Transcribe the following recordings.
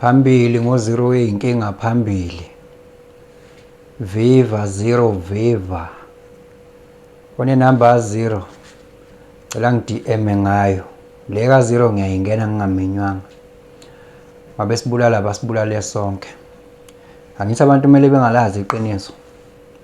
Phambili ngo zero weyinkinga phambili. Viva zero viva. One number a zero. Cela ngidm ngayo. Le ka zero ngiyayingena ngingamenywanga. Mabesibulala basibulale sonke. Angithi abantu kumele bengalazi iqiniso.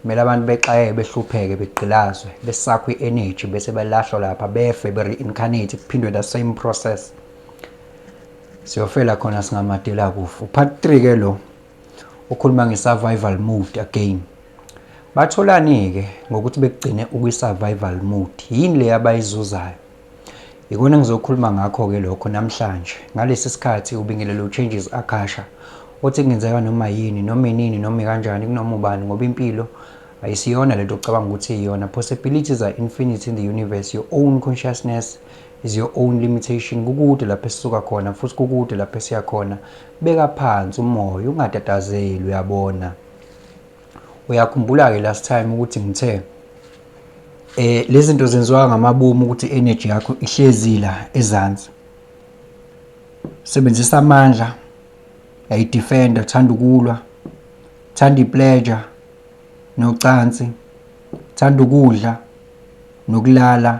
Kumele abantu bexaye behlupheke begqilazwe besakhwe energy bese belahlwa lapha befe be reincarnate kuphindwe the same process. Siyofela khona singamadela kufa. Part 3 ke lo ukhuluma nge-survival mode again. Batholani-ke ngokuthi bekugcine ukwi-survival mode? Yini le abayizuzayo? Yikona engizokhuluma ngakho-ke lokho namhlanje. Ngalesi sikhathi ubingelele u-Changes Akasha othi kungenzeka noma yini, noma inini, noma ikanjani, kunoma ubani ngoba impilo ayisiyona lento ocabanga ukuthi iyona. Possibilities are infinite in the universe, your own consciousness is your own limitation kukude lapho esisuka khona futhi kukude lapho esiya khona beka phansi umoya ungatatazeli uyabona uyakhumbula ke last time ukuthi ngithe eh lezi zinto zenziwa ngamabomu ukuthi energy yakho ihlezi la ezansi sebenzisa amandla yayi defender thanda ukulwa thanda ipleasure nocansi thanda ukudla nokulala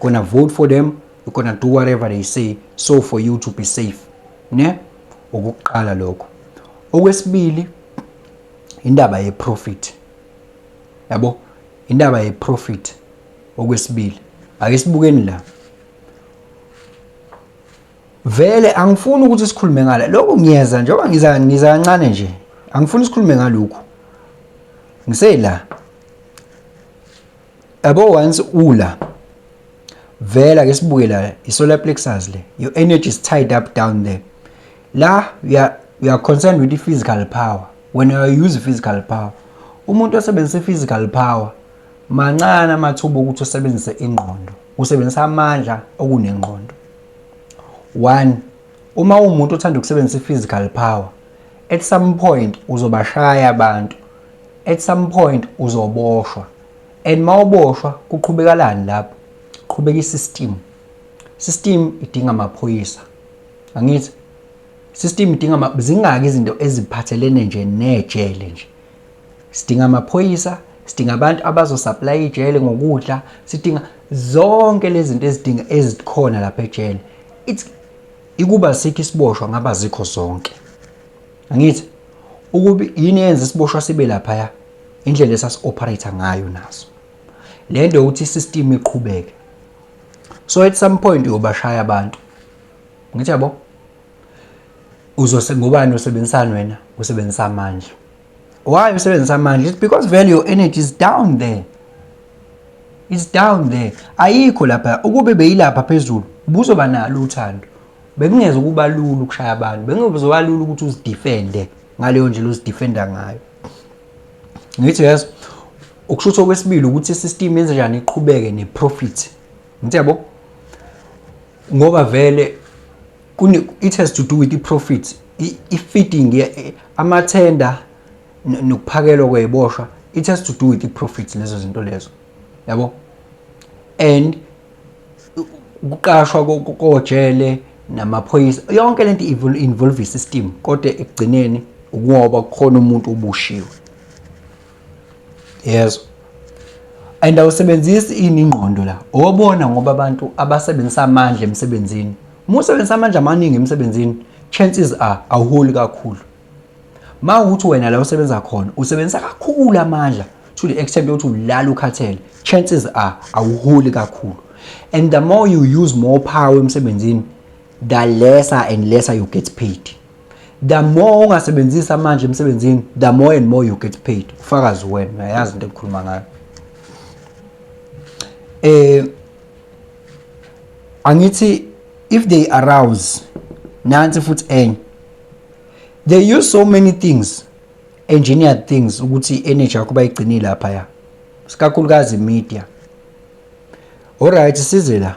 gonna vote for them we're gonna do whatever they say so for you to be safe ne okuqala lokho okwesibili indaba ye profit yabo indaba ye profit okwesibili ake sibukeni la vele angifuni ukuthi sikhulume ngala lokho ngiyeza njengoba ngiza ngiza kancane nje angifuni sikhulume ngalokho ngisela Yabo once ula vela ke sibuke la isolar plexus le your energy is tied up down there la we are, we are concerned with the physical power when you use physical power umuntu osebenzisa physical power mancane amathuba ukuthi usebenzise ingqondo usebenzisa amandla okunengqondo one uma umuntu othanda ukusebenzisa i-physical power At some point uzobashaya abantu. At some point uzoboshwa. And mawuboshwa kuqhubekalani lapho? Qhubeka isystem. System idinga amaphoyisa. Angithi system idinga zingaki izinto eziphathelene nje nejele nje. Sidinga amaphoyisa, sidinga abantu abazosupply ijele ngokudla, sidinga zonke lezi zinto ezidinga ezikhona lapha ejele. It's Ikuba asikho isiboshwa ngabe azikho zonke. Angithi ukuba yini yenza isiboshwa sibe laphaya indlela esasi-operator ngayo naso. Le nto yokuthi i-system iqhubeke. So at some point uyobashaya abantu. Ngithi yabo? Uzose ngobani usebenzisana wena? Usebenzisa amandla. why usebenzisa amandla it's because vele your energy is down there is down there ayikho lapha ukube beyilapha phezulu buzoba nalo uthando bekungeze ukuba lula ukushaya abantu bekuzoba lula ukuthi uzidefende ngaleyo ndlela uzidefenda ngayo ngithi yes ukushuthi okwesibili ukuthi isystem yenze njani iqhubeke neprofit ngithi yabo ngoba vele kune it has to do with i profits i feeding eh, ama tender nokuphakelwa kweboshwa it has to do with i profits lezo zinto lezo yabo and ukuqashwa kojele namaphoyisa yonke lento involve system kodwa ekugcineni ukungoba kukhona umuntu obushiwe Yezwa. And awusebenzisi ini ingqondo la. Obona ngoba abantu abasebenzisa amandla emsebenzini. Uma usebenzisa amandla amaningi emsebenzini, chances are awuholi kakhulu. Ma ukuthi wena la usebenza khona, usebenzisa kakhulu amandla to the extent yokuthi ulala ukhathele. Chances are awuholi kakhulu. And the more you use more power emsebenzini, the lesser and lesser you get paid. the more ungasebenzisa manje emsebenzini the more and more you get paid ufakazi wena uyayazi into engikhuluma ngayo eh angithi if they arouse nansi futhi enye they use so many things engineered things ukuthi i-energy yakho bayigcinile lapha ya sikakhulukazi media alright size la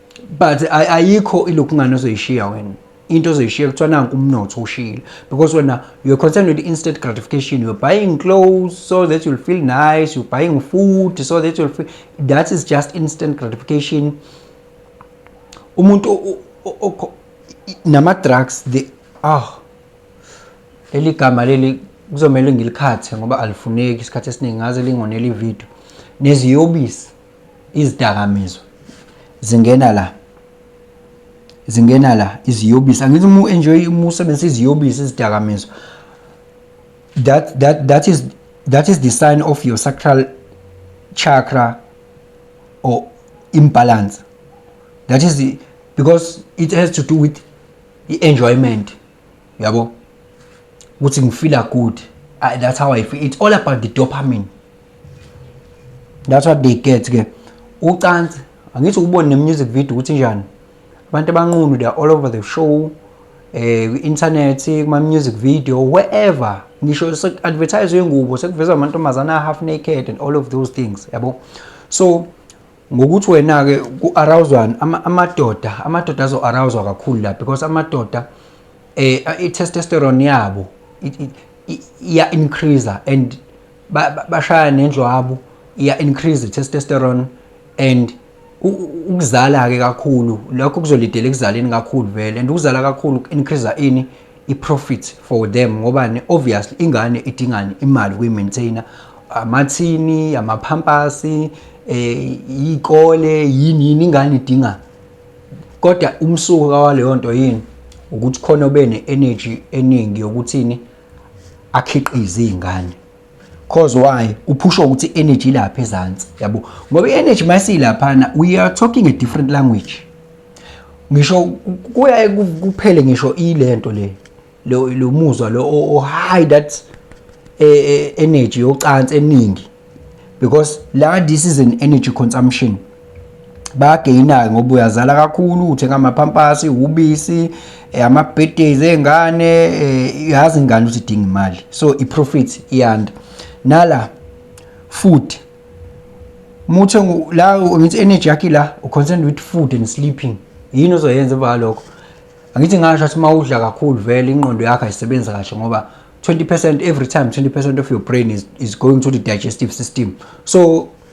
but ayikho ilokhungane ozoyishiya wena into ozoyishiya kuthiwa nanku umnotho ushile because wena you're concerned with instant gratification you're buying clothes so that you'll feel nice you're buying food so that you'll feel that is just instant gratification umuntu nama-drugs the ah leli gama leli kuzomele ngilikhathe ngoba alifuneki isikhathi esiningi ngaze lingonela ividiyo neziyobisi izidakamizwa zingena la zingena la iziyobisi angithi uma u-enjoy uma usebenzisa iziyobisi izidakamizwa that, that, that, is, that is the sign of your sacral chakra or imbalance that is the, because it has to do with i-enjoyment yabo ukuthi ngifeela good I, that's how i feel it's all about the dopamine that's what they get ke ucansi angithi ukubona nemusic video ukuthi njani abantu abanqunu they are all over the show eh internet kuma music video wherever ngisho sekuadvertise yengubo sekuveza amantombazana half naked and all of those things yabo so ngokuthi wena-ke ku-arawuzwani amadoda amadoda azo-arawuzwa kakhulu la because amadoda eh i-testosterone yabo iya-increaser and bashaya nendlwabo iya-increase i-testosterone and ukuzala-ke kakhulu lokho kuzolidela ekuzaleni kakhulu vele and ukuzala kakhulu ku-increaser ini iprofit for them ngobani obviously ingane idingani imali kuyi-maintainer amathini amaphampasi eh ikole yini yini ingane idinga kodwa umsuka waleyo nto yini ukuthi khona obene energy eningi yokuthini akhiqize izingane cause why uphusha ukuthi energy lapha ezantsi yabo ngoba i-energy masiyilaphana we are talking a different language ngisho kuyaye kuphele ngisho ilento le lo muzwa lo o high that e, e, energy yocansi eningi because la this is an energy consumption bayageyina-ke ngoba uyazala kakhulu uthenga amaphampasi ubisi eh, ama-birthdays ey'ngane eh, yazi ingane ukuthi idinga imali so i-profit iyanda nala food muthi la ngithi energy yakhe la uconcerned with food and sleeping yini ozoyenza emva kalokho angithi ngasho ukuthi uma udla kakhulu vele ingqondo yakho ayisebenzi kahle ngoba 20% every time 20% of your brain is, is going to the digestive system so